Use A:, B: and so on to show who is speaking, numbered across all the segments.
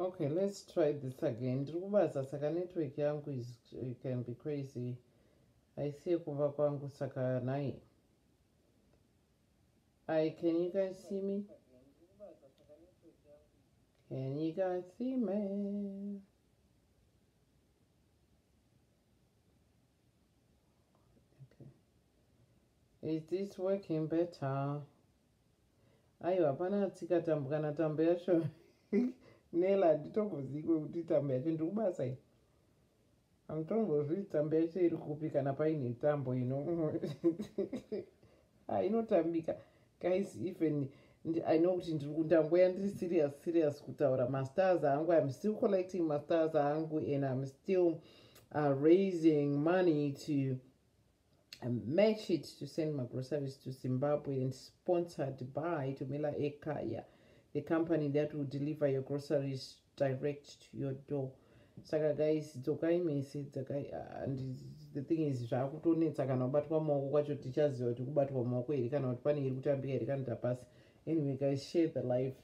A: okay let's try this again ndiri kubasa saka network yangu is uh, can be crazy haisiye kumba kwangu saka nai Hi, can you guys see me? Can you guys see me? Okay. Is this working better? Ayo, hapana tsika tambo kana tambo yacho. Nela, nditokuzivi kuti tambo yacho ndikubasa iyi. Amutombozvii tsamba yacho iri kupi kana paine tambo ino ah, inotambika guys even i know kuti ndangoya ndiri serious serious kutaura mastars angu im still collecting mastars angu and im still uh, raising money to I match it to send my groceries to Zimbabwe and sponsored by Tumela Ekaya, the company that will deliver your groceries direct to your door. Saka guys, dzokai mese, dzokai, uh, and the thing is, zvakutonetsa kana kubatwa maoko kwacho tichaziva kuti kubatwa maoko here kana kuti pane iri kutambika here kana tapasi. Anyway guys, share the life.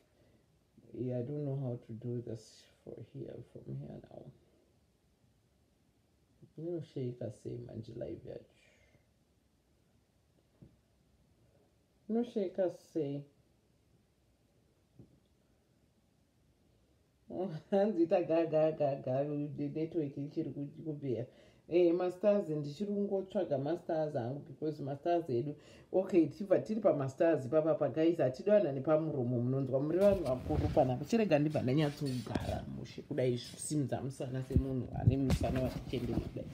A: Yeah, I don't know how to do this for here, from here now. Inoshaika sei manje live yacho? Inoshaika sei? hanzi ita gagagaga network ichiri kubvera eh masters ndichiri kungotsvaga masters hangu because masters edu okay tichibva tiri pamastars ipapa pagais hatidi vanhu vane pamuromo munonzwa muri vanhu vakuru pana kuchirega ndibva ndanyatsogara mushe kudai zvisimudza musana semunhu ane musana vachichendera kudai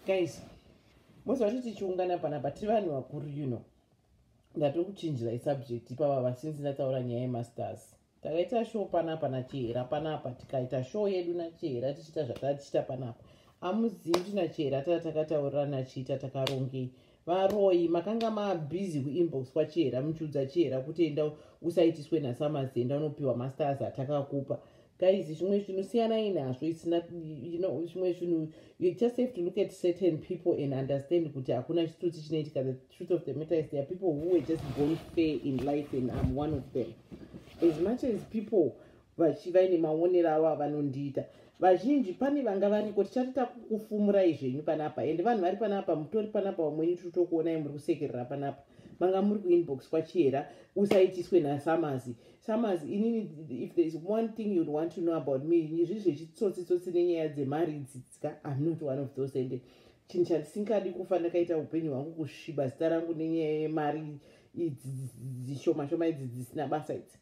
A: gais mose vacho tichiungana panapa tiri vanhu vakuru you know ndatokuchinjirai subject ipapa vasinzi ndataura nyaya yemastars takaita show panapa nachihera panapa tikaita show yedu nachihera tichiita zvatava tichiita panapa amuzivi kuti nachihera tava takataurira nachiita takarongei varoyi makanga mabhizi kuinbox kwachihera muchiudza chihera kuti enda usaitiswe nasamasi enda unopiwa masters atakakupa guys zvimwe zvinhu siyanai nazvo isinachimwe zvinhu you just have to look at certain people and understand kuti hakuna chitsotsi chinoitika truth of the matter is there are people who were just born fair in life and i'm one of them as much as people vaine maonero avo avanondiita vazhinji pane vanga variko tichati takukufumurai zvenyu panapa ende vanhu vari panapa mutori panapa vamweni tiri tokuonai muri kusekerera panapa manga muri kuinbox kwachihera usaitiswe nasamazi samazi inini if thereis one thing you want to know about me izvi zvechitsotsitsotsi nenyaya dzemari dzitsika im not one of those ende chinhu chandisingadi kufa ndakaita upenyu hwangu kusviba zita rangu nenyaya yemari idzi dzishoma shoma idzi dzisina basa idzi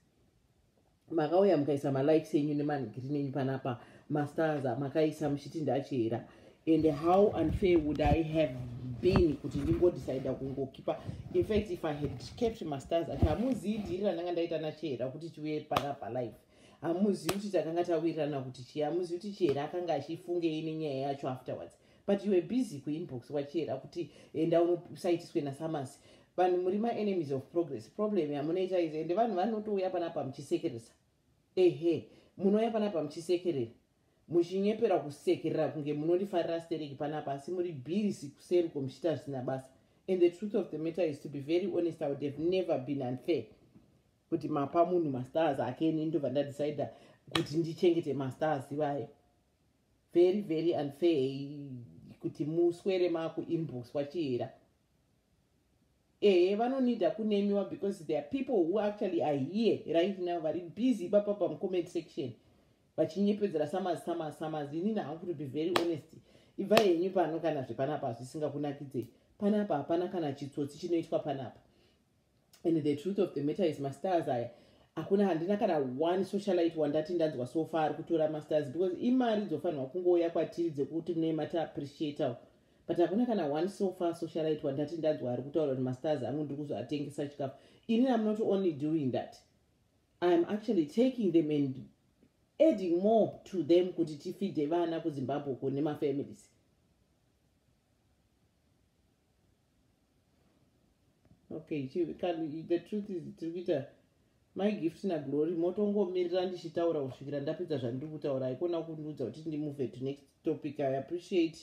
A: makauya mukaisa malikes enyu nemanigiri nenyu panapa mastars makaisa muchiti ndachera and how unfair would i have been kuti ndingodecida kungokipa infact if i had kept mastars ati hamuzii dhiri randanga ndaita nachera kuti tiuye panapa life hamuzivi kuti takanga tawirirana kuti chii hamuzivi kuti chera akanga achifungei nenyaya yacho afterwards but you were busy kuinbox wachiyera kuti enda unosaitiswe nasamasi vanhu muri maenemies of progress problem yamunoita izi ende vanhu vanotouya panapa muchisekeresa ehe munouya panapa muchisekerera muchinyepera kusekerera kunge munorifarira stereki panapa asi muri busy kuseri ko muchiita zvisina basa and the truth of the matter is to be very honest i would have never been unfair kuti mapa munhu mastars ake ini ndobva ndadecide kuti ndichengete mastars ivaye very very unfair kuti muswere makuimbuswa chihera ehe vanonida kunemiwa because there are people who actually are here right now vari busy ipapa pamucomment section vachinyepedzera samazi samazi samazi inini hangu to be very honest ibva henyu pano kana zvepanapa zvisingakunakidzei panapa hapana kana chitsotsi chinoitwa panapa and the truth of the matter is mastars aya hakuna handina kana one socialite wandati ndanzwa so far ari kutora mastars because imari dzofanirwa kungouya kwatiri dzekuti mune mati appreciatewo but hakuna kana one so far socialite wandati ndanzwa ari kutaura kuti mastars angu ndiri kuzoatengesa chikafu ini am not only doing that iam actually taking them and adding more to them kuti tifide vana kuzimbabwe ko nemafamilies okay the truth is tiri kuita mai gift naglory motongomirira ndichitaura kusvikira ndapedza zvandiri kutaura haikona kundiudza kuti ndimove to next topic i appreciate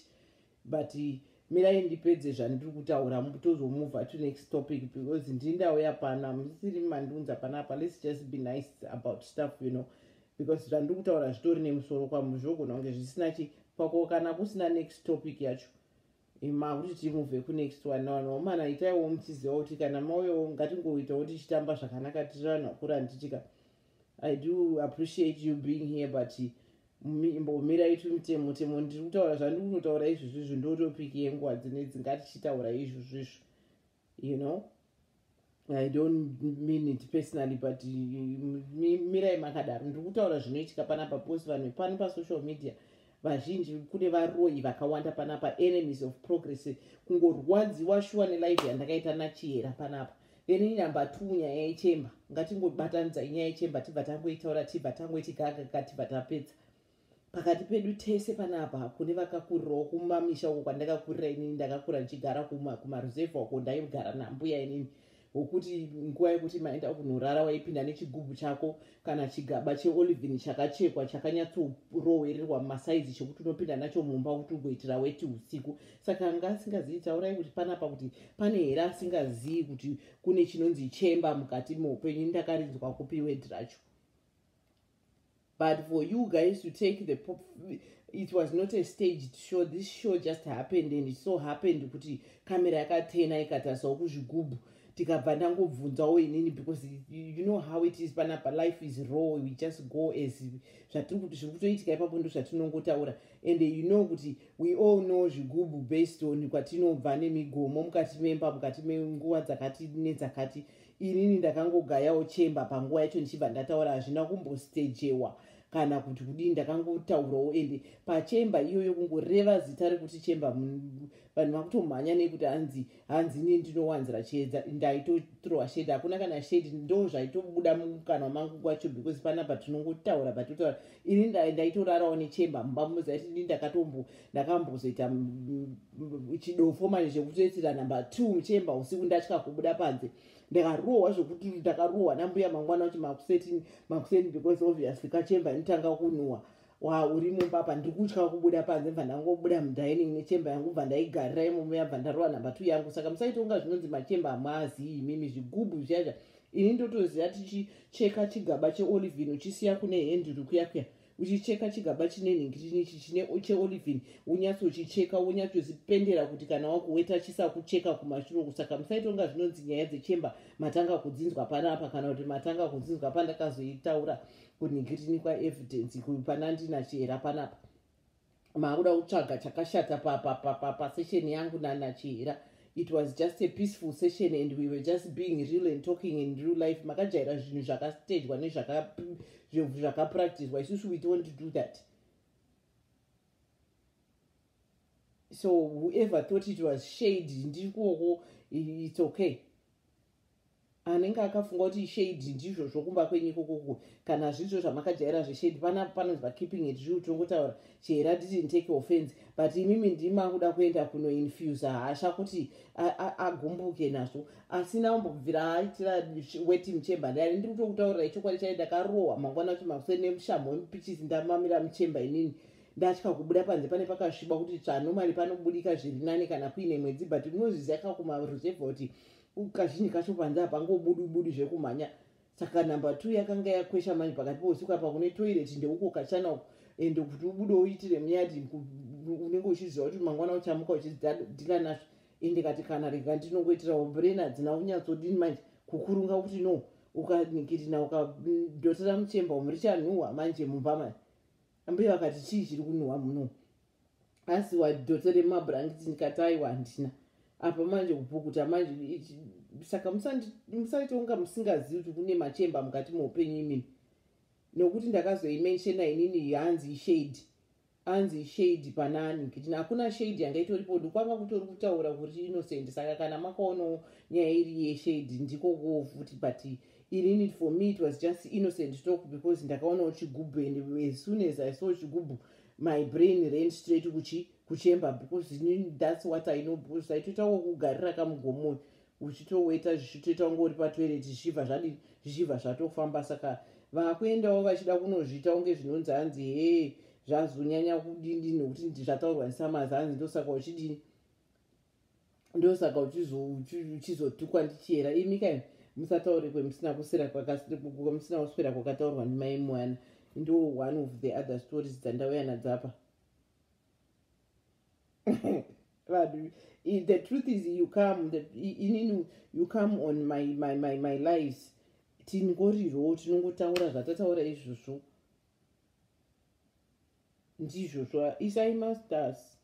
A: but mirai ndipedze zvandiri kutaura tozomova to next topic because ndindauya pano amusiri mandiunza panapa lets just be nice about stuff you know because zvandiri kutaura zvitori nemusoro kwamuzvogona kunge zvisina chi kwako kana kusina next topic yacho ima kuti timuvhe kunext one navanhu vamana itaiwo muchiziva kuti kana mauyawo ngatingoitawo tichitamba zvakanaka tiri vanhu vakuru handitika i do appreciate you being here but mbomira itu mitemo temo ndiri kutaura zvandiri kutotaura izvozvo izvo ndotopiki yenguva dzine dzingatichitaura izvozvo izvo you know i don't mean it personally but mirai makadaro ndiri kutaura zvinoitika panapa bcause vanhu pano pasocial media vazhinji kune varoyi vakawanda panapa enemies of progress kungorwadziwa shuwa nelife yandakaita nachihera panapa then inumber two nyaya yechemba ngatingobatanidza inyaya yechemba tibva tangoitaura tibva tangoiti gagaka tibva tapedza pakati pedu tese panapa kune vakakurirawo kumamisha uko kwandakakurira inini ndakakura ndichigara kumaruzevha uko ndaigara nambuya inini wokuti nguva yekuti maenda kunorara waipinda nechigubhu chako kana chigaba cheolivin chakachekwa chakanyatsorowererwa mumasaizi chekuti unopinda nacho mumba kuti ugoitira weti usiku saka anga asingazivi taurai kuti panapa kuti pane here asingazivi kuti kune chinonzi chemba mukati meupenyu ndakarinzwa kupi wedhi racho but for you guys to take the pop it was not a staged show this show just happened and it so happened kuti camera yakatena ikatasawo kuzvigubhu tikabva ndangobvunzawo inini because you know how it is panapa life is raw we just go as zvatiri kuti zviri kutoitika ipapo ndo zvatinongotaura and you know kuti we all know zvigubhu based on kwatinobva nemigomo mukati memba mukati menguva dzakati nedzakati inini ndakangogayawo chemba panguva yacho ndichibva ndataura hazvina kumbostejewa kana kuti kudii ndakangotaurawo ende pachemba iyoyo kungoreva zita rekuti chemba vanhu vakutomhanya nekuti hanzi hanzi ini ndinowanzira chiedza ndaitotrowa shedi hakuna kana shedi ndo zvaitobuda mukanwa mangu kwacho because panapa tinongotaura patotaura ini ndaitorarawo nechemba mumba muzaiti ini ndakatombo ndakambozoita chidofo manje chekutoitira number two muchemba usiku ndatya kubuda panze ndakarohwa zvekuti ndakarohwa nambuya mangwana kuti makuseti makuseni because obviously kachemba inotanga kunhuwa wa uri mumba apa ndiri kutya kubuda panze bva ndangobuda mudining nechemba yangu bva ndaigarira imomo yabva ndarohwa number two yangu saka musaitonga zvinonzi machemba amwaazii imimi zvigubhu zviyaizva ini ndotoziva tichicheka chigaba cheolivin uchisiya kune henduru kuya kuya uchicheka chigaba chine nhingirini ichi chine cheolivin wonyatsochicheka wonyatsozipendera kuti kana wakuweta chisakucheka kumashure kusaka musaitonga zvinonzi nyaya dzechemba matanga kudzinzwa panapa kana kuti matanga kudzinzwa pandakazoitaura kunhingirini kwaevidence kupanandina chihera panapa maakuda kutsvaga chakashata pasession yangu nanachihira it was just a peaceful session and we were just being real and talking in real life makajaira zvinhu zvakastagwa nezvakapracticwa isusu we don't do that so whoever thought it was shade ndiri kuoko it's okay anenge akafunga kuti ishade ndizvo zvokumba kwenyu ikokoko kana zvizvo zvamakajaira zveshade pana panonzi pakeeping it real tongotaura chihera didn't take offense but imimi ndima kuda kuenda kunoinfusa hasha kuti agumbuke nazvo asina umbobvira aitira weting chamber ndani ndiri kutokutaurirai chokwadi chai ndakarohwa mangwana kuti makuseni nemushamho wemupichisi ndamamira muchamber inini ndatya kubuda panze pane pakasviba kuti tsvanomari panobudika zviri nani kana kuine mwedzi but unozviziva kakumaruzevha kuti kazhinji kacho panze hapangobudwi budi zvekumhanya saka number two yakanga yakwesha manje pakati pousiku apa kune toilet ndeuko kachana uko ende kuti ubude uitire muyadi unenge uchiziva kuti mangwana uchamuka uchidila nazvo ende kati kana rega ndinongoitirawo brain hadzina kunyatsodini manje kukurunga kuti no ukanikirina ukadotera muchemba umurichanhuhwa manje mumba manje ambuya vakati chii chiri kunhuhwa muno asi wadhota remabhurangiti ndikati aiwa handina apa manje kupukuta manje saka musaitonga musingazivi kuti kune machemba mukati meupenyu imini nokuti ndakazoimenshena inini hanzi ishade hanzi ishade panani kiti hakuna shade yanga itoripo ndikwanga kutori kutaura kuti innocent saka kana makaonawo nyaya iri yeshade ndiko koo futi but ini need for me it was just innocent talk because ndakaona uchigubhu and as soon as i saw chigubhu my brain ran straight kuchi kuchemba because thats what i know because aitoita wokugarira kamugomoyo uchitoweta zvichitoita kunge uri patoireti zvichibva zvadii zvichibva zvatofamba saka vakuendawo vachida kunozviita kunge zvinonzi hanzi hee zvazonyanya kudini nekuti zvataurwa nesamazi hanzi ndosaka uchidini ndosaka uchizotukwa ndichiyera imi kai musataure kwemusina kusira kwamusina kuswera kwakataurwa ndimai mwana ndo one of the other stories dzandauya nadzapa vanhu the truth is you come inini you come on my, my, my, my lives tingorirwo tinongotaura zvatataura izvozvo ndizvozvo isai masters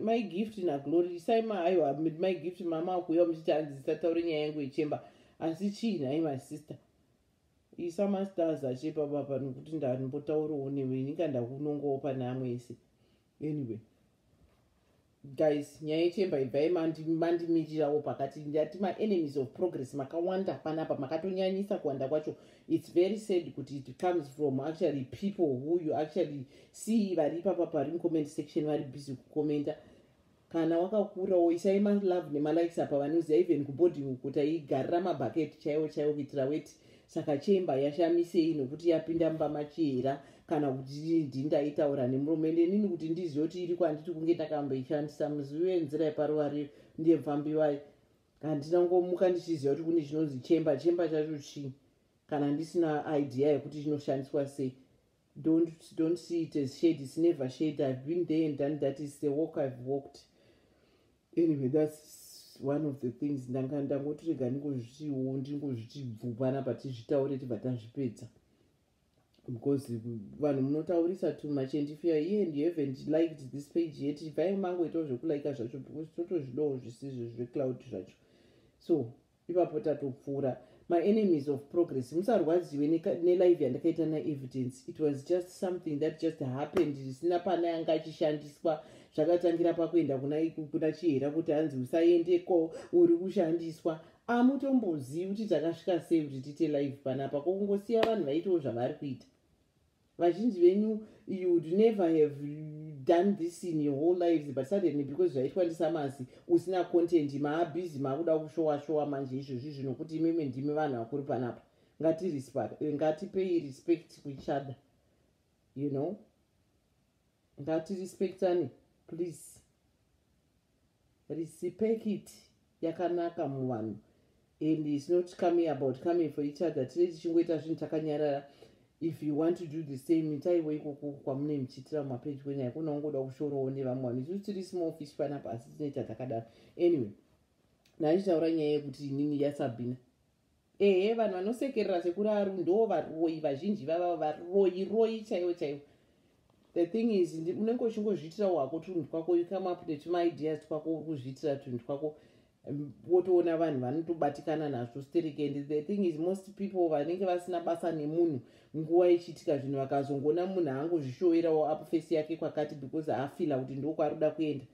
A: mai gift naglory isai maaiwa mai gift mama akuuya muchiti hanzi zisataure nyaya yangu yechemba asi chii nhai masister isa mastars achepabapa nokuti ndambotaurawo newe inika ndakunongawo pane amwe ese anyway guys nyaya yechemba ibvai mandimirirawo pakati ndati maenemies of progress makawanda panapa makatonyanyisa kuwanda kwacho its very sad kuti it comes from actually people who you actually see vari ipapa pari mucomment section vari busy kucomenta kana wakakurawo isai malove nemalikes apa vanoziva even kuboarding uku taigarira mabucket chaiwo chaiwo kuitira weti saka chemba yashamisei nokuti yapinda mumba machihera kana kuti ndindaitaura nemurume ndenini kuti ndizive kuti iri kwanditi kunge ndakamboishandisa muzivi wenzira yeparuva riyo ndiye mfambiwai handina kungomuka ndichiziva kuti kune chinonzi chemba chemba chacho chii kana ndisina idea yekuti chinoshandiswa sei don't, don't see it as shade it's never shade i've been there and done that is the walk i've walked anyway that's one of the things ndanga ndangotirega ndingozvitiwo ndingozviti bvupana patizvitaure tibva tazvipedza because vanhu munotaurisa too much and if youare here and you haven't liked this page yet ivai mangoitawo zvekulika zvacho because totozvidawo zvisizvo zvecloud zvacho so ipapo tatopfuura maenemies of progress musarwadziwe nelive yandakaita naevidence it was just something that just happened zvisina pane yanga achishandiswa zvakatangira pakuenda kuna chihera kuti hanzi usaendeko uri kushandiswa amutombozivi kuti takasvika sei kuti tiite live panapa kokungosiya vanhu vaitawo zvavari kuita vazhinji venyu you would never have done this in your whole lives but suddenly because zvaitwa ndisamasi usina content maabhizi maakuda kushowa showa manje izvozvi zvino kuti imimi ndimi vanhu vakuri panapa ngatipei respect kuchada you know ngatirespectane please Risipekiti yakanaka muvanhu and is not coming about coming for each other tine tichingoita zvinhu takanyarara if you want to do the same itaiwo ikoko kwamune muchiitira mumapedyo nyaya kuna ungoda kushorowo nevamwe vanhu isusu tiri small fish panapa asi tinoita takadaro anyway naichitaura nyaya yekuti inini yasabhina ehe vanhu vanosekerera sekuru aru ndo varoyi vazhinji vavavo varoyi royi chaivo chaivo the thing is unenge uchingozviitira wako tunhu twako you come up netumaideas twako uri kuzviitira tunhu twako um, wotoona vanhu vanotobatikana nazvo sterek and the thing is most people vanenge vasina basa nemunhu nguva ichiitika zvinhu vakazongoona munhu angozvishoerawo apfesi yake kwakati because afila kuti ndokwaari kuda kuenda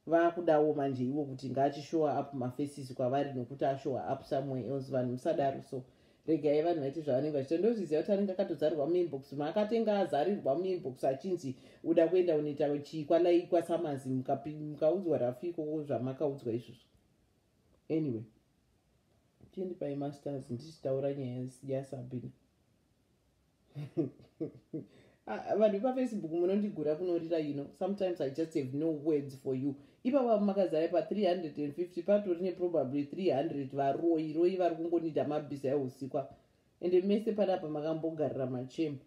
A: vakudawo manje ivo kuti ngaachishowa up mafaces kwavari nokuti ashowa up somewhere else vanhu musadaro so regai vanhu vaite zvavanenge vachita ndozviziva kuti anenge akatozarirwa muinbox maakatenga azarirwa muinbox achinzi uda kuenda unoita chii kwalai kwasamazi mukaudzwa rafu ikoko zvamakaudzwa izvozvo anyway tiendi paimasters ndichitaura nyaya yasabina Ah, vanhu vepafacebook munondigura kunorira you know sometimes i just have no words for you ipapa makazaya pa350 patori neprobably 300 varoyi royi vari kungonida mabhiza eusikwa ende mese panapa makambogarira machema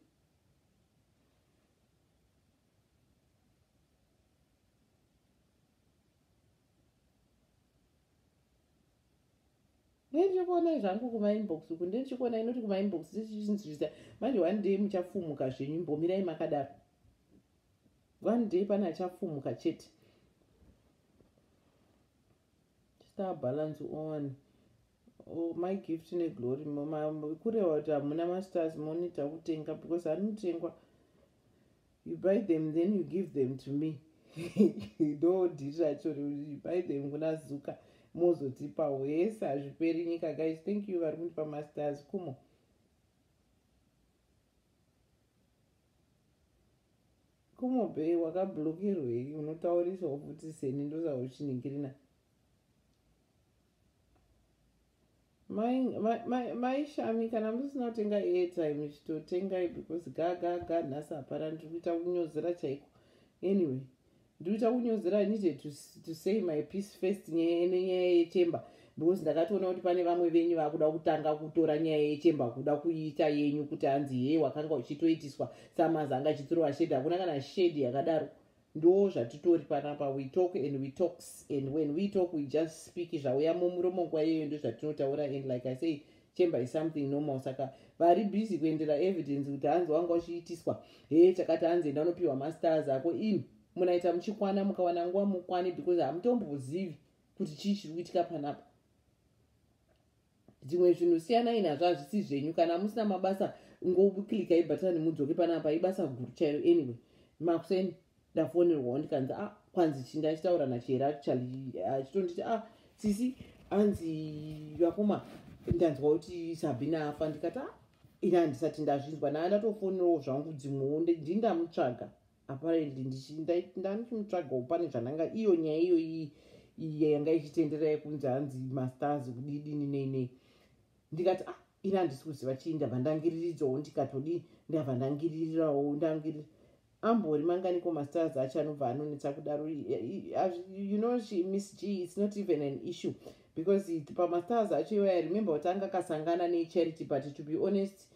A: ndendichikuona zvangu kumainbox uku ndendichikuona inoti kumainbox ndichinzvisa manje one day muchafumuka zvenyu imbomirai makadaro one day pane achafumuka chete star balance on oh, my gift neglory kureva kuti hamuna mastars monita kutenga because anotengwa you buy them then you give them to me ndo dhiri racho you buy them kuna zuka mozotipa wese hazviperi nyika guys thank you vari kundipa masters kumo kumobhei wakablokerwei unotaurisawo futi seni ndosauchiningirina maishami kana musina kutenga airtime chitotengai because gagaga nhasi hapana ndiri kuita kunyozera chaiko anyway ndiri kuita kunyozera i needed to, to say my peace first nenyaya yechemba because ndakatoona kuti pane vamwe venyu vakuda kutanga kutora nyaya yechemba kuda kuiita yenyu kuti hanzi hee wakanga uchitoitiswa samazanga chitsuro vashedi hakuna kana shedi yakadaro ndoo zvatitori panapa we talk and we talks and when we talk we just speak zvauya mumuromo nguva iyeyo ndozvatinotaura and like i say chamber is something normal saka vari busy kuendera evidence kuti hanzi wanga uchiitiswa he chakati hanzi enda unopiwa masters ako in munaita muchikwana mukawana nguva mukwane because hamutombozivi kuti chii chiri kuitika panapa dzimwe zvinhu siyanai nazvo hazvisi zvenyu kana musina mabasa ngoklika ibhatani mudzoke panapa ibasa guru chairo anyway makuseni ndafonerwawo ndikanzi a ah, kwanzi chi ndachitaura nachihera achitonditi a ah, sisi anzi vakoma ndanzwa kuti sabhina afa ndikati a ah, ini handisati ndazvinzwa naa ndatofonerawo zvangu dzimwewo ndindamutsvaga apparently ndanichimutsvagawo pane zvandanga iyo nyaya iyo iyo yanga ichitendera yekunzi hanzi mastars kudidini neinei ndikati ah ini handisi kuziva chii ndabva ndangiriridzawo ndikatodi ndabva ndangiririrawo ndangiri ambori manganiko mastars acho anobva anonetsa kudaro you know she miss g its not even an issue because pamastars acho iwaya remember kuti anga akasangana necharity but to be honest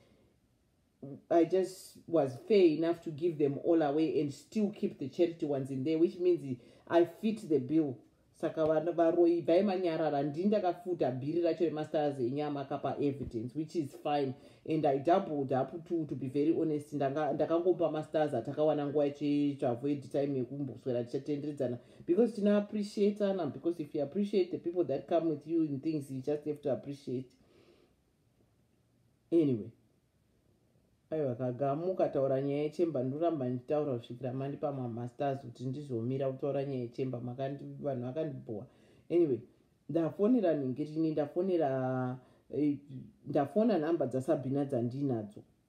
A: I just was fair enough to give them all away and still keep the charity ones in there, which means I fit the bill. Saka varoi bhai manyarara ndini ndakafuta bhiri racho remastars enyama akapa evidence which is fine and i doubled up to, to be very honest ndakangopa mastars atakawana nguva yacho to avoid time yekumboswera tichatenderidzana because tina appreciatana because if you appreciate the people that come with you in things you just have to appreciate anyway aiwa kagamuka taura nyaya yechemba ndoramba ndichitaura kusvikira mandipa mamasters kuti ndizomira kutaura nyaya yechemba vanhu vakandibhowa anyway ndafonera ningirini ndafonera eh, ndafona nhamba dzasabhina dzandinadzo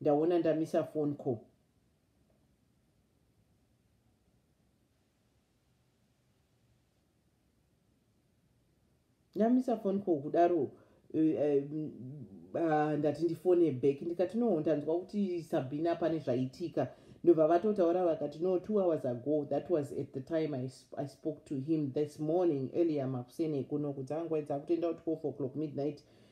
A: ndaona ndamisa phone call ndamisa phone call kudaro eh, eh, ah, ndati ndifone back ndikati no ndanzwa kuti sabina pane zvaitika ndobva vatotaura vakati no two hours ago that was at the time i, sp I spoke to him this morning earlier makuseni ekuno kuti angwaidza kutoenda kuti four o'clock midnight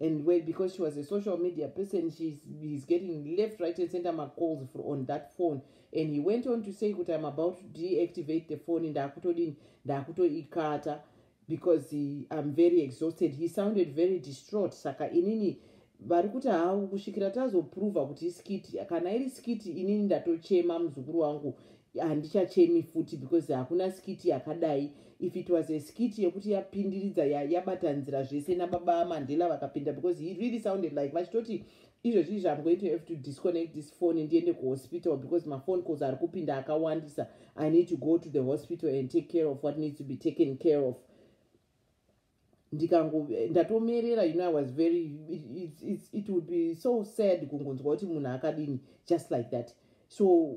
A: and well because she was a social media person she's he's getting left right and center macalls for on that phone and he went on to say kuti im about to deactivate the phone ndaakutodini ndaakutoikata because he, i'm very exhausted he sounded very distraught saka inini vari kuti havo kusvikira tazoprova kuti iskiti kana iri skiti inini ndatochema muzukuru wangu handichachemi futi because hakuna skiti yakadai if it was a skiti yekuti yapindiridza yabata ya nzira zvese nababa amandela vakapinda because he really sounded like vachitoti izvezvi izvi am going to have to disconnect this phone ndiende kuhospital because maphone calls ari kupinda akawandisa i need to go to the hospital and take care of what needs to be taken care of ndikango ndatomerera you know i was very it, it, it, it would be so sad kungonzwa kuti munhu akadini just like that so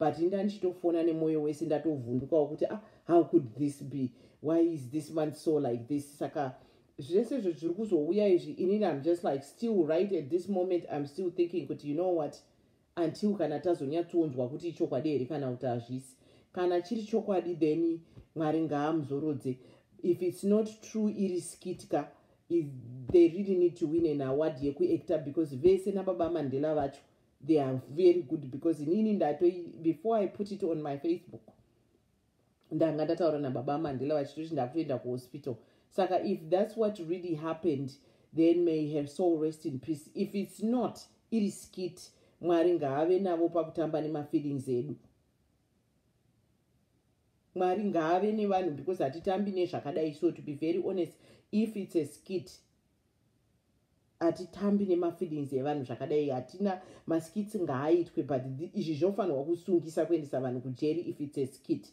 A: but inda ndichitofona nemwoyo wese ndatovhundukawo kuti ah, how could this be why is this man so like this saka zvese izvo zviri kuzouya izvi inini im just like still right at this moment im still thinking kuti you know what until kana tazonyatsonzwa kuti ichokwadi here kana kuti hazvisi kana chiri chokwadi then mwari ngaamuzorodze if its not true iri skitka they really need to win an award yekuactor because vese nababa mandela vacho they are very good because inini ndato before i put it on my facebook ndanga ndataura nababa mandela vachitoti ndakutoenda kuhospital saka if that's what really happened then may her soul rest in peace if it's not iri skit mwari ngaave navo pakutamba nemafeelings edu mwari ngaave nevanhu because hatitambi nezvakadai so to be very honest if it's a skit hatitambi nemafeelings evanhu zvakadai hatina maskits ngaaitwe but izvi zvinofanirwa kusungisa kuendesa vanhu kujeri if its a skit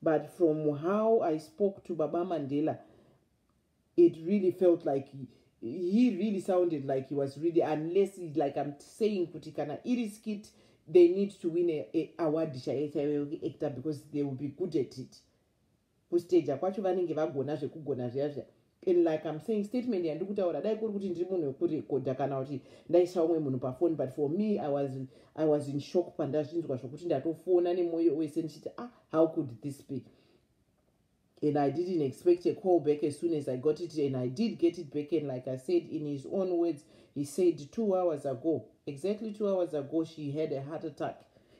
A: but from how i spoke to baba mandela it really felt like he really sounded like he was really unless like i'm saying kuti kana iri skit they need to win a, a award chaiyo chaiyo actor because they will be good at it kustager kwacho vanenge vagona zvekugona zviya zviya and like im saying statement yandiri kutaura dai kuri kuti ndiri munhu wekurekodha kana kuti ndaisa umwe munhu pafoni but for me i was, I was in shock pandazvinzwa zvokuti ndatofona nemwoyo wese ndichiti ah how could this be and i didn't expect a call back as soon as i got it and i did get it back and like i said in his own words he said two hours ago exactly two hours ago she had a heart attack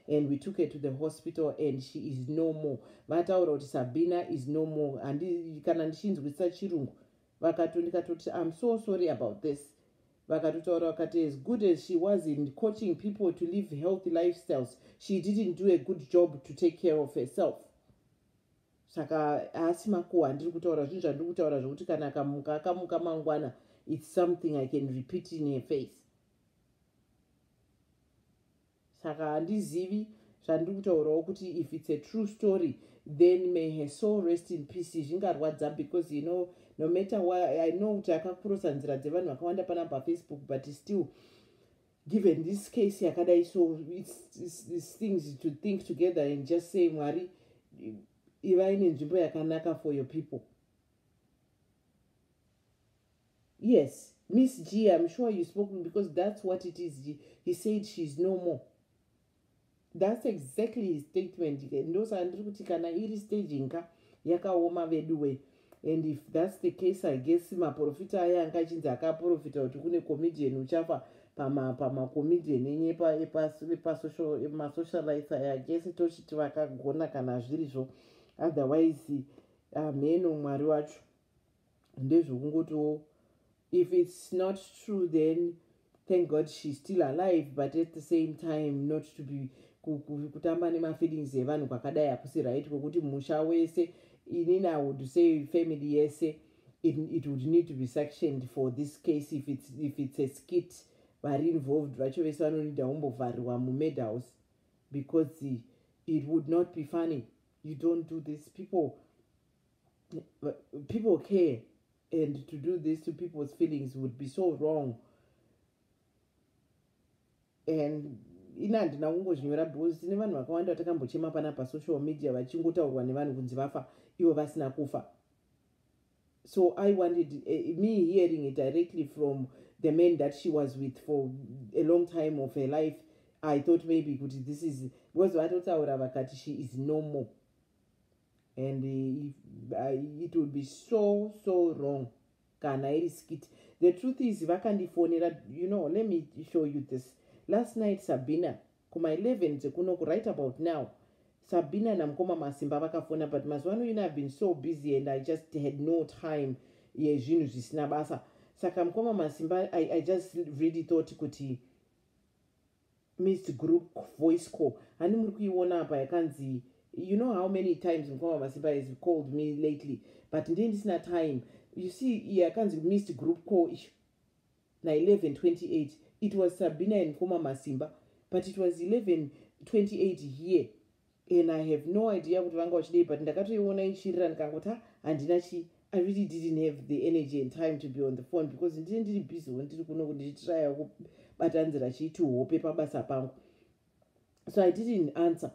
A: and we took her to the hospital and she is no more vataura kuti sabina is no more handi kana ndichinzwisisa chirungu vakato ndikatoti im so sorry about this vakatotaura vakati as good as she was in coaching people to live healthy lifestyles she didn't do a good job to take care of herself saka haasi makuwa handiri kutaura zvinhu zvandiri kutaura zvokuti kana akamuka akamuka mangwana it's something i can repeat in her face saka handizivi zvandiri kutaurawo kuti if it's a true story then may her soul rest in peace zvingarwadza because you know no matter why i know kuti akakurosa nzira dzevanhu vakawanda pana pafacebook but still given this case yakadai so it's, it's, it's things to think together and just say mwari ivai nenzvimbo yakanaka for your people Yes, Miss G, I'm sure you spoke to me because that's what it is. He, he said she's no more. That's exactly his statement. Ndosandiri kuti kana iri staging ka yakaoma vedu way. And if that's the case, I guess maprofita aya anga achinzi akaprofita kuti kune comedian uchafa pama pama comedian enye pa epa epa social ema socialites aya guess tochiti vakagona kana zviri zvo. Otherwise, ameno ah, Mwari wacho. ndezvokungotiwo if it's not true then thank god she's still alive but at the same time not to be kutamba nemafeelings evanhu kwakadai hakusi right kwekuti musha wese inini i would say family yese it, it would need to be sectioned for this case if it's, if it's a skit vari involved vacho vese vanonida umbovharirwa mumade house because it would not be funny you don't do this people people care and to do this to people's feelings would be so wrong and ini handina kungozvinyora because tine vanhu vakawanda vatakambochema pana pasocial media vachingotaurwa nevanhu kunzi vafa ivo vasina kufa so i wanted uh, me hearing it directly from the man that she was with for a long time of her life i thought maybe kuti this is because vatotaura vakati she is normal and if, uh, it will be so so wrong kana iri skit the truth is vakandifonera you know let me show you this last night sabina kuma 11 dzekunoku right about now sabina namukoma masimba vakafona but mazuva ano ino i've been so busy and i just had no time yezvinhu zvisina basa saka mukoma masimba I, i just really thought kuti missed group voice call hani muri kuiona apa yakanzi you know how many times mukoma masimba has called me lately but ndii ndisina time you see yakanzi missed group call icho na 1128 it was sabina and mukoma masimba but it was 1128 here and i have no idea kuti vanga vachidei but ndakatoiona ichirira ndikangoti ha handina chii i really didn't have the energy and time to be on the phone because ndine ndiri busy wo ndiri kuno ndichitraya kubatanzira chiiti hope pabasa pangu so i didn't answer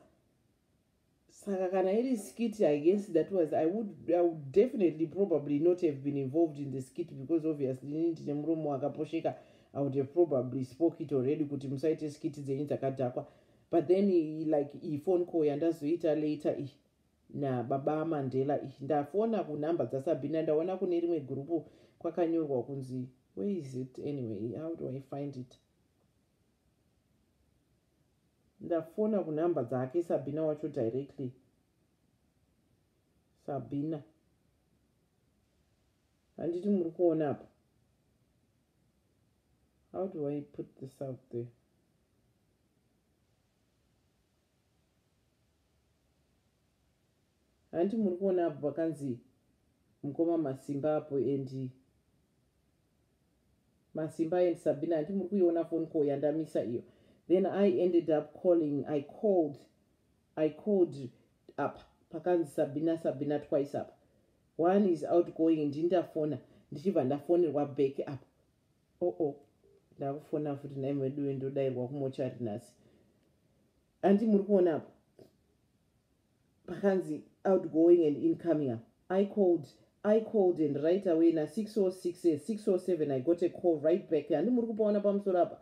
A: saka kana iri skit i guess that was i would, I would definitely probably not have been involved in the skit because obviously ini ndine muromo wakaposheka i would have probably spoke it already kuti musaite skit dzenyu dzakadhakwa but then like iyi phone call yandazoita later iyi nababa amandela iyi ndafona kunhamba dzasabhina ndaona kune rimwe gurupu kwakanyorwa kunzi where is it anyway how do i find it ndafona kunhamba dzake sabhina wacho directly sabhina handiti muri kuona apa how do i put this out there hanti muri kuona apo pakanzi mukoma masimba apo and masimba and sabina hanti muri kuiona phone call yandamisa iyo then i ended up calling i called i called apa pakanzi sabina sabina twice apa one is outgoing ndindafona ndichibva ndafonerwa back apa oh oh ndakufona futi nhai veduwe ndodairwa kumochari nhasi andi muri kuona apa pakanzi outgoing and incoming up i called i called and right away na 606 607 i got a call right back handi muri kupaona pamusoro apa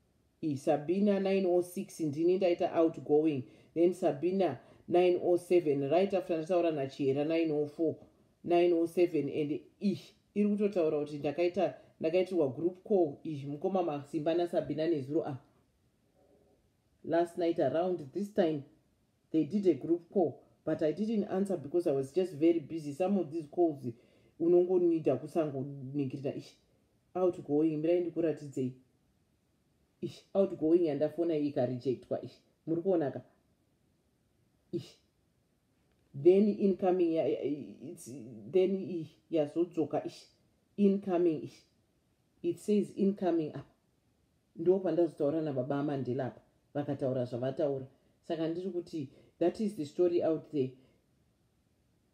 A: sabina 906 ndini ndaita outgoing then sabina 907 right after ndataura nachihera 904 907 and ish iri kutotaura kuti ndakaita ndakaitirwa group call ish mukoma masimba nasabina nezuro a last night around this time they did a group call but i didn't answer because i was just very busy some of these calls unongonida kusangoningirira ish outgoing mirai ndikuratidzei ish outgoing yandafona iyi ikarejectwa ish muri kuonaka ish then incoming ya, it's, then yazodzoka ish incoming ish it says incoming apa ndo pandazotaura nababa amandela apa vakataura zvavataura saka ndiri kuti that is the story out there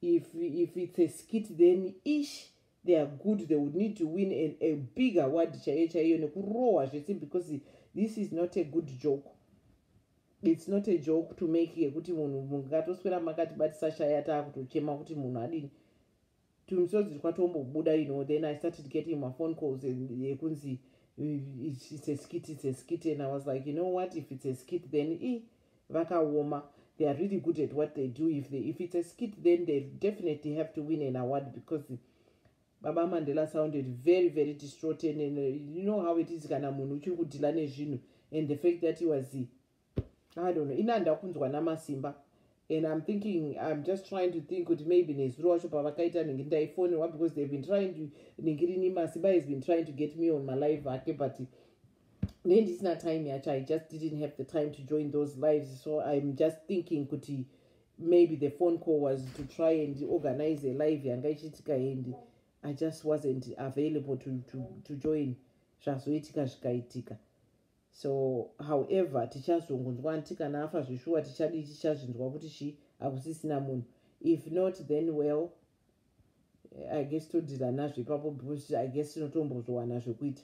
A: if if it's a skit then ish they are good they would need to win a, a big award chaiyo chaiyo nekurohwa zvese because this is not a good joke it's not a joke to make yekuti munhu mungatoswera makati batisashaya taakutochema kuti munhu adini tumisodzi twatombobuda you know then i started getting maphone calls yekunzi it's a skit it's a skit and i was like you know what if it's a skit then e vakaoma they are really good at what they do if, they, if it's a skit then they definitely have to win an award because baba mandela sounded very very distraught and, and uh, you know how it is kana munhu uchiri kudhila nezvinhu and the fact that he was he i don't know ina ndakunzwa namasimba and i'm thinking i'm just trying to think kuti maybe nezuro wacho pavakaita nenge ndaifonerwa because they've been trying to ningirini masimba has been trying to get me on malive ake but then it's not time yet. i just didn't have the time to join those lives so i'm just thinking kuti maybe the phone call was to try and organize a live yanga ichiitika and i just wasn't available to, to, to join zvazoitika zvikaitika so however tichazongonzwa nti kana afa zveshuwa tichadii tichazvinzwa kuti chii hakusisina munhu if not then well i guess todhira nazvo ipapo because i guess tinotombozvowana zvekuita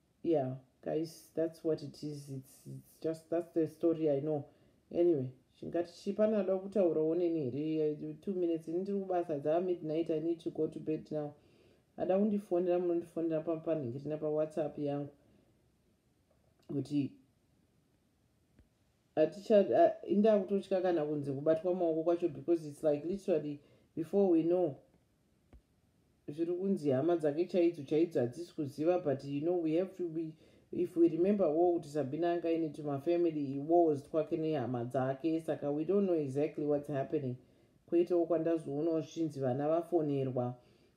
A: yeah guys that's what it is it's, it's just that's the story i know anyway chingati chi pane ada kutaura oneni here two minutes ini ndiri kubasa dzava midnight i need to go to bed now ada kundifonera munondifonera papanhingirina pawhatsapp yangu kuti indaa kutotya kana kunze kubatwa maoko kwacho because its like literally before we know zviri kunzi hama dzake chaidzo chaidzo hadzisi kuziva but you know we have to be if we remember wo kuti sabina anga ine tumafamily iwos twake nehama dzake saka we don't know exactly what's happening kweitawo kwandazoonawo zvichinzi vana vafonerwa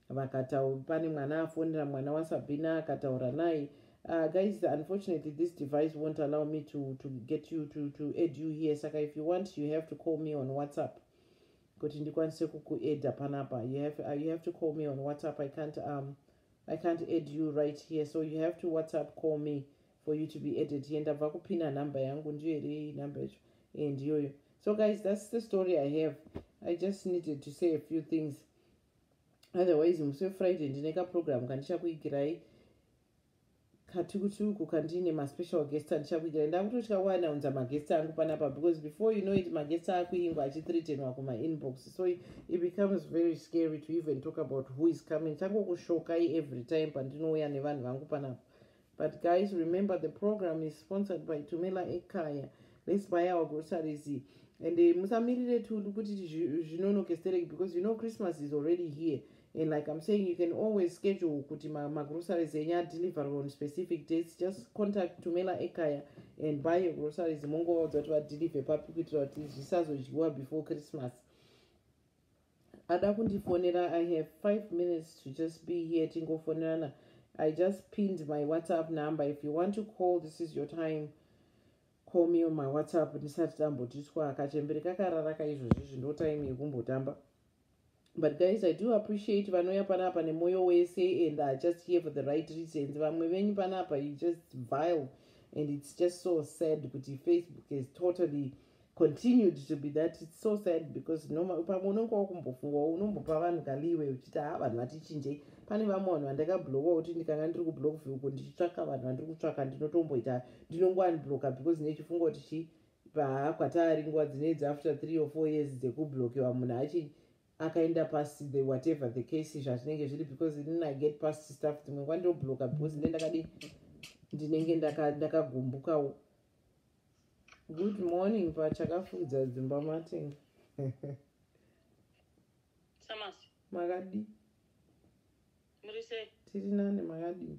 A: vakataura pane mwana afonera mwana wasabina akataura naye uh, guys unfortunately this device won't allow me to, to get you to, to add you here saka if you want you have to call me on whatsapp kuti ndikwanise kukuedha panapa you have, uh, you have to call me on whatsapp i can't, um, I can't add you right here so you have to whatsapp call me for you to be added here ndabva kupina number yangu ndiyo here iyi number yacho e eh, ndiyoyo so guys that's the story i have i just needed to say a few things otherwise musi wefriday ndine kaprogramu kandichakuigirai katukutuku kandine maspecial guest andichakuigira ndakutotya kuwana unza maguest angu panapa because before you know it maguest akuingwa achithreatenwa kumainbox so it becomes very scary to even talk about who is coming tangokushokai every time pandinouya nevanhu vangu panapa but guys remember the program is sponsored by tumela ekaya let's buy our groceries and eh, musamirire tulu kuti zvinonokestereki because you know christmas is already here and like i'm saying you can always schedule kuti magroceries enyu adeliver on specific dates just contact tumela ekaya and buy your groceries mongovaudza kuti vadeliver papi kuitira kuti zvisazodyiwa before christmas ada kundifonera i have five minutes to just be here tingofonerana i just pinned my whatsapp number if you want to call this is your time call me on my whatsapp ndisati tambotiswa kachembere kakarara kaizvozvizvi ndo time yekumbotamba but guys i do appreciate vanouya panapa nemoyo wese and are just here for the right reasons vamwe venyu panapa you just vile and it's just so sad kuti facebook has totally continued to be that it's so sad because pamwe unenge wakumbofunga unombopa vanhu kaliwe uchiti ha vanhu vatichinjei pane vamwe vanhu vandakabloka kuti ndikanga ndiri kublock veuko ndichitsvaka vanhu vandiri kutsvaka ndinotomboita ndinongoanbloka because nechifunga kuti chii Baa kwataari nguva dzine idzi after three or four years dzekublokewa munhu achi akaenda past the whatever the case zvazvinenge zviri because inini i get past stuff dzimwe nguva ndobloka because ine ndakadi ndinenge ndakagumbukawo good morning pachakafukidza dzimba matenga makadii
B: tiri nani makadii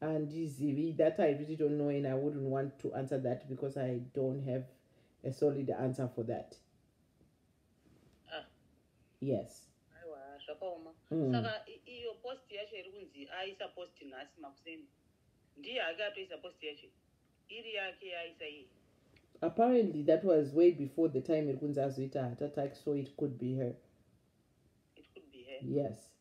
B: andizivi
A: that i really don't know and i wouldn't want to answer that because i don't have a solid answer for that ah. yes aiwa zvakaoma
B: mm. saka iyo post yacho iri kunzi aisa post nhasi makuseni ndiye ake atoisa post yacho iri yake yaisa iye apparently
A: that was way before the time iri kunzi azoita heart attack so it could be her it
B: could be her yes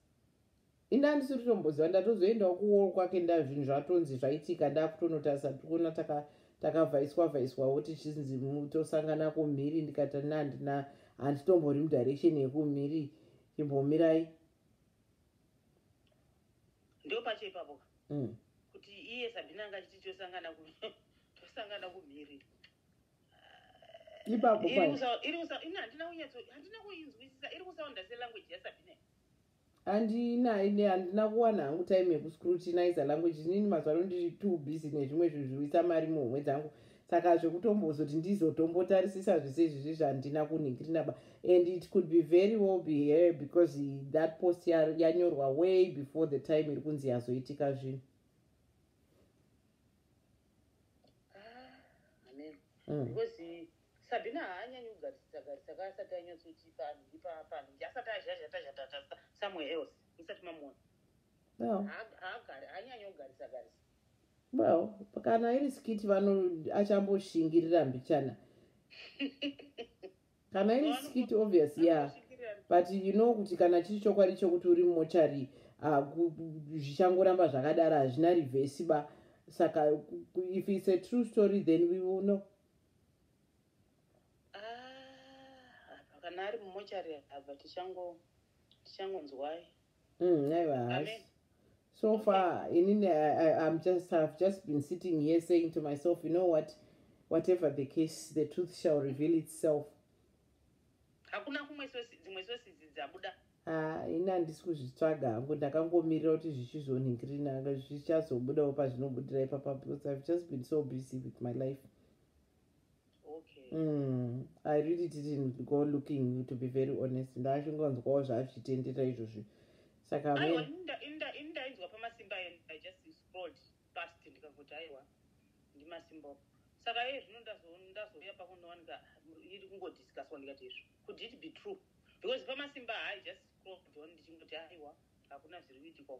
A: ini handisi kutomboziva ndatozoendawo kuwall kwake nda zvinhu zvatonzi zvaitika ndakutonotarisa tikuona takavhaiswa taka vhaiswawo tichinzi tosangana kumhiri ndikati na handina handitombori mudirection yekumhiri chimbomirai
B: ndo pacho ipapo mm. kuti iye sabina anga chiti tosangana tosangana kumhiri
A: ipapo iri kusahandina
B: kuinzwisisa iri kusaunda selanguage yasabina andina ine
A: handina kuwana hangu time yekuscrutinizer language inini mazuva ano ndiri too busy nezvimwe zvinhu zviruisa mari muhomwe dzangu saka zvekutombozoti ndizotombotarisisa zvese izvizvi zvandina kunhingirinaba and it could be very well be here because that post yanyorwa way before the time iri kunzi yazoitika zvinhu
B: Mm. because sabhina haanyanyi kugarisisa garisa ka asati anyatsoti panhu ipapanhu nje asati azhazhatazhatatasa somewhere else musati mamuona haagari haanyanyi kugarisa garisa
A: well kana iri skiti vano achamboshingirira mbichana kana iri skit obvious ya yeah. but you know kuti kana chiri chokwadi chokuti uri mumochari ah, zvichangoramba uh, zvakadaro hazvina rivhesi ba saka if its a true story then we will know
B: ah, kana ari mumochari ava tichangonzwai
A: mm,
B: aiwa haasi
A: so far inini im just have just been sitting here saying to myself you know what whatever the case the truth shall reveal itself hakuna kumwe dzimwe sosizi dzabuda ah, ini handisi kuzvitsvaga hangu ndakangomirira kuti zvichizonhingirina zvichazobudawo pazvinobudira ipapa because ive just been so busy with my life okay. mm, i really didn't go looking to be very honest ndachingonzwawo zvaazvitendera izvozvi saka ndainzwa
B: pamasimba eno i just scrolled past ndikangoti aiwa ndimasimba opo saka iye zvino ndazouya pakunowanika iri kungodiscuswa ndikati izvo could it be true because pamasimba hai just scrolled on ndichingoti aiwa hakuna zviri kuitikwa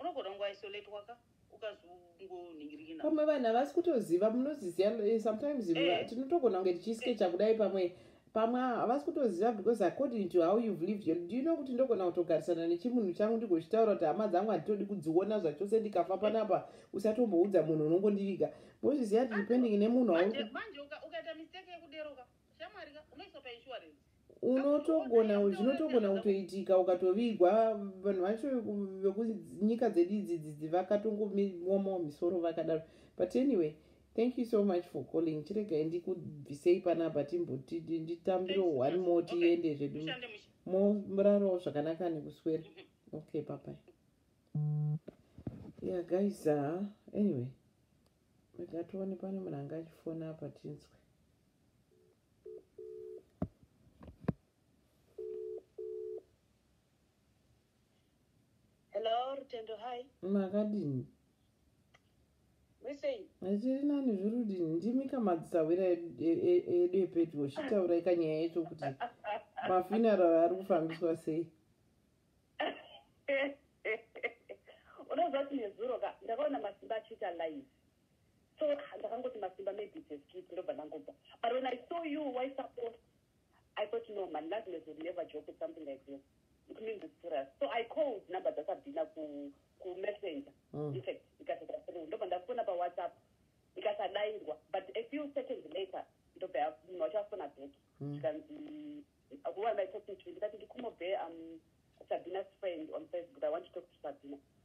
B: Unogona kungo isolate waka ukazongoningirikina. Pamwe vanhu havasi
A: kutoziva munoziziva eh, sometimes eh. tinotogona kunge tichiskecha eh. kudai pamwe pamwe havasi kutoziva because according to how you've lived your do you know kuti ndogona kutogarisana nechimunhu changu ndigochitaura kuti hama dzangu handitodi kudziona zvachose ndikafa panapa usatomboudza munhu unongondiviga mozviziva kuti depending nemunhu manje ukaita
B: mistake yekuderoka Shamwari ka unoiswa pa insurance. unotogona zvinotogona
A: kutoitika ukatovigwa vanhu vacho veku- vekunyika dzedu idzi dzidzi vakatongomiwomawo misoro vakadaro but anyway thank you so much for calling chiregai ndikubvisei panapa timboti nditambirewo Thanks, one Pastor. more Okay. tiende zvedu Mushande mush. morarawo zvakanaka nekuswera okay papai yeah guys uh, anyway mega tione pane munhu anga achifona apa tinzwe
B: Hello, Rutendo, hi. Makadini?
A: Mesei? Tiri nani zvirudini, ndimi kamadzisawira edu epedyo, chitaura ikanyaya yacho kuti mafuneral ari kufambiswa sei?
C: Unoziva kuti nezuro ka, ndakaona masimba achiita live. so ah, ndakangoti masimba maybe it's a skit ndobva ndangobva but when i saw you waisapota i thought no man lazmes would never joke with something like this it means it's serious so i called number dzasabhina ku kumessenger mm. in fact ikasvika through ndobva ndafona pawhatsapp ikasadairwa but a few seconds later ndobva munhu wacho afona back mm. zvikanzi who am i talking to ndikati ndikumobe um sabina's friend on facebook i want to talk to sabina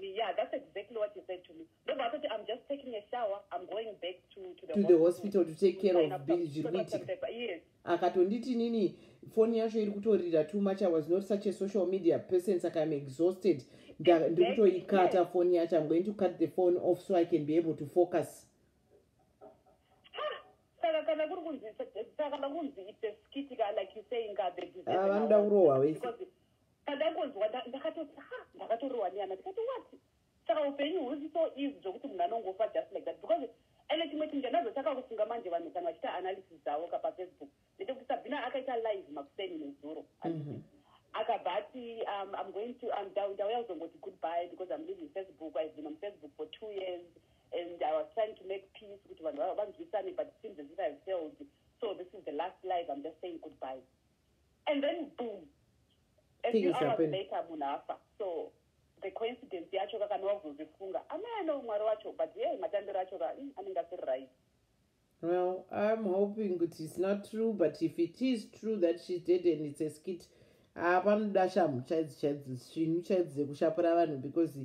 C: Me, yeah, that's exactly what he said to me. No, but I thought I'm just taking a shower. I'm going back to, to the, to hospital, the hospital to take care of Bill
A: Jirwiti. Yes.
C: Akatonditi nini
A: phone yacho iri kutorira too much. I was not such a social media person. Saka I'm exhausted. Ndiri kutoikata phone yacho. I'm going to cut the phone off so I can be able to focus. Saka
C: kana kuri kunzi saka kana kunzi it's a skit like you saying ka the ah, vanoda kurohwa wese. Pandaingonzwa nda- ndakatoti ha ndakatorohwa nehana ndikati what saka upenyu husi so easy zvekuti munhu anongofa just like that because ende chimwe chinhu chandazotanga kufunga manje vanhu kana vachiita analysis dzavo ka pafacebook ndechekuti sabhina akaita live makuseni nezuro Mhm. akabva ati um, i'm going to um, ndau- ndauya kuzongoti goodbye because i'm leaving facebook i've been on facebook for two years and i was trying to make peace kuti vanhu va- vanzwisane but it seems as if i've failed so this is the last live i'm just saying goodbye and then boom a few hours later munhu afa so the coincidence yacho ka kana wazozvifunga amai ane umwari wacho but ye matambiro acho ka mm, anenge asiri right well
A: iam hoping kuti its not true but if it is true that she did and its a skit haa ah, panoda shamhu chaidzo chaidzo svinhu chaidzo dzekushapura vanhu because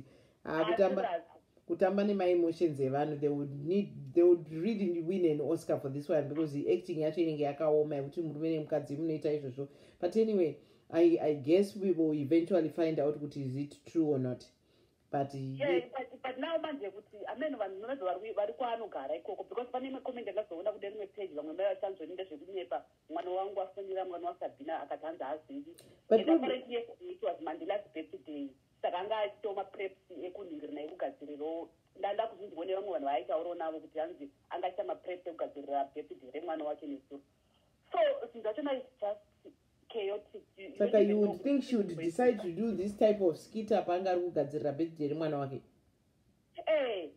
A: ah, kutamba kutamba nemaemotions evanhu they would need they would really win an oscar for this one because the acting yacho inenge yakaoma yekuti murume nemukadzi munoita izvozvo but anyway I, i guess we will eventually find out kuti is it true or not but yeah, but, but
C: now manje kuti ameno vanhu novezo vari kwaanogara ikoko because pane imwe comment andazoona kude rimwe page vamwe mai vachanzoni ndezvekunyepa mwana wangu afonera mwana wasabhina akati hanzi hazivi but apparently yes it was mandilas birthday saka anga aitawo mapreps ekunhingirina ekugadzirirawo ndanda kuzvinzwa nevamwe vanhu vaaitaurawo navo kuti hanzi anga aita mapreps ekugadzirira birthday remwana wake nezuro so zvinhu zvacho nai just saka you would
A: think she would decide to do this type of skit apa anga ari kugadzirira birthday remwana wake Eh,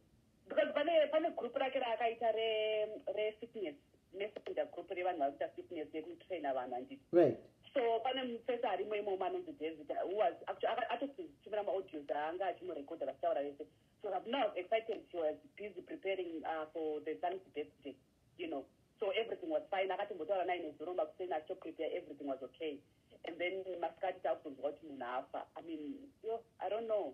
C: because pane pane group rake raakaita re re fitness messenger group revanhu vari kuita fitness yekutraina vanhu anditi right so
A: pane mupesa
C: arimo imomo anonzi david who was actually aka- atotumira maaudios aanga achimurekodha vachitaura vese so rabna was excited she was busy preparing uh, for the son's birthday you know so everything was fine akatombotaura naye nezuro makuseni achitoprepare everything was okay and then masikati taakuzonzwa kuti munhu afa i mean yo i don't know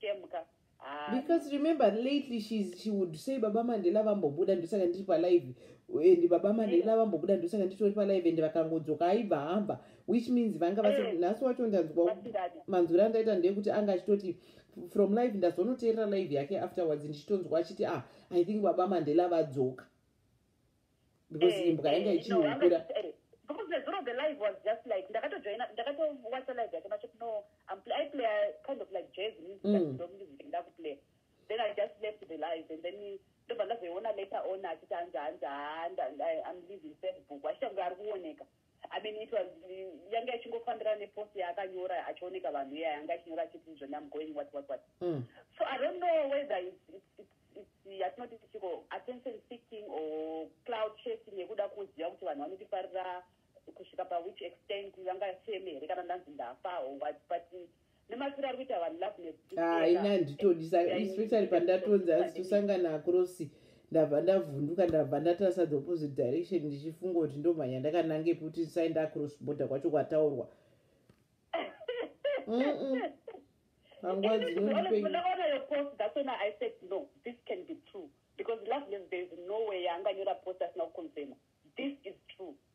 C: Chemka. Because remember
A: lately she's, she would say baba Mandela vambobuda ndosaka ndiri palive and baba Mandela vambobuda ndosaka nditori palive and vakangodzoka aibva hamba which means vanga vasi mm. nhasi wacho ndanzwa manzwira andaita ndeyekuti anga achitoti from live ndazonoteerera live yake afterwards ndichitonzwa achiti ah i think baba Mandela vadzoka because eh, imbwa yanga eh, ichiukura
C: because the zero of the live was just like ndakatojoina ndakatowacha live yake macho no um, i play a kind of like jazz music mm. ndomusic ndakuplay then i just left the live and then ndobva ndazoiona later on achiti hanzi hanzi haa i'm leaving facebook wachita kunge ari kuoneka I mean it was yanga ichingofambira nepost yaakanyora achioneka vanhu iya yanga achinyora achiti izvo I'm going what what what mm. so I don't know whether it's, it's, it's, it's yatinoti tichiko attention seeking or cloud chasing yekuda kuziva kuti vanhu vanotifarira kusvika pawhich extent vangacheme here kana ndanzi ndafa or what but nemafiro ari kuita vanhu lahaina ah,
A: nditodisa especially pandatonzi hanzi tosangana akrosi ndabva ndavhunduka ndabva ndatarisa the opposite direction ndichifunga kuti ndomhanya ndakanange kuti ndisaenda across border kwacho kwataurwa panguva
C: dzinondipeaaa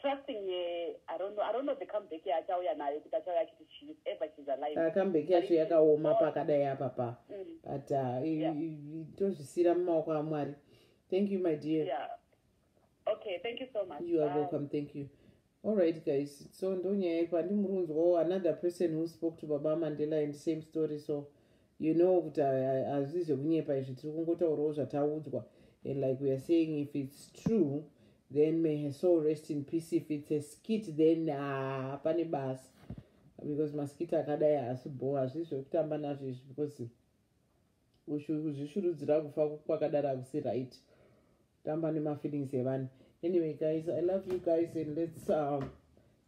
C: trusting her i don't know i don't know the comeback yaachauya nayo
A: kuti achauya achiti she is ever she's alive uh, comeback yacho yakaoma pakadai apa pa mm. but uh, yeah. tozvisiyira mumaoko amwari thank you my dear yeah.
C: okay thank you so much you are Bye. welcome thank you
A: all right guys so ndonyaya yekwa ndimurunzwawo another person who spoke to baba mandela and same story so you know kuti hazvisi zvekunyepa izvi tiri kungotaurawo zvataudzwa and like weare saying if its true then may her soul rest in peace if its a skit then haa ah, pane basa because maskit akadai haasi bho hazvisi zvekutamba nazvo izvi because kuzvishurudzira kufa kwakadaro akusi right tamba nemafeelings evanhu anyway guys i love you guys and let's um,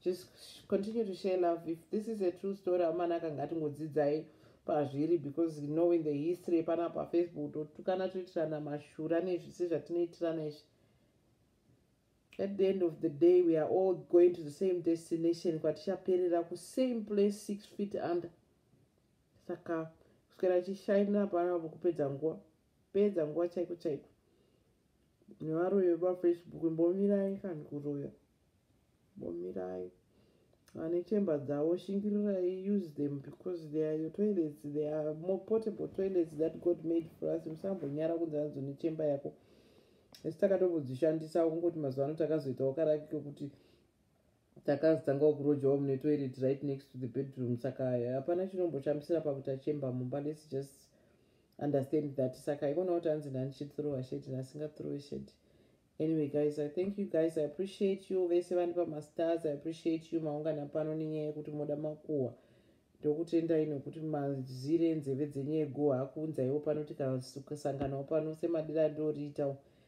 A: just continue to share love if this is a true story amana akanga atingodzidzai pazviri because knowing the history pana pafacebook totukana toitirana mashura nezvisi zvatinoitirana izvi at the end of the day we are all going to the same destination kwatichaperera kusame place six feet under saka kuswera chishaina panapo kupedza nguva kupedza nguva chaiko chaiko nevaroyi vepafacebook mbomirai kani kuroya mbomirai vane chemba dzavo shingirirai use them because they are your toilets they are more portable toilets that god made for us musambonyara kunzi anzo nechemba yako esi takatombozishandisa kungoti mazuva ano takazoitawo karaki kekuti Takazotangawo kurojawo mune toilet right next to the bedroom saka hapana chinomboshamisira pakuti achemba mumba let's just understand that saka ivona kuti hanzi ndandichithrowa sheti nasingathrowe sheti anyway guys i thank you guys i appreciate you vese vani pamastars i appreciate you maungana pano nenyaya yekuti moda makuhwa ndokutendai nokuti mazire enzeve dzenyu eguhwa akuunzaiwo pano tikasanganawo pano semadira ndoriitawo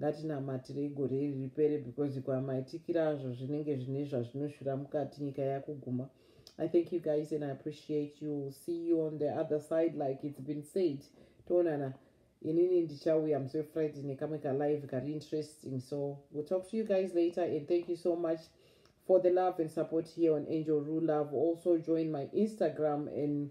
A: Ngatinamatirei gore iri ripere because kwamaitikira azvo zvinenge zvine zvazvinoshura mukati nyika yakuguma. I thank you guys and I appreciate you. See you on the other side like it's been said. Toonana. Inini ndichauya musi weFriday nekamwe kalive kari interesting. So we'll talk to you guys later and thank you so much for the love and support here on Angel Rue Love. Also join my Instagram and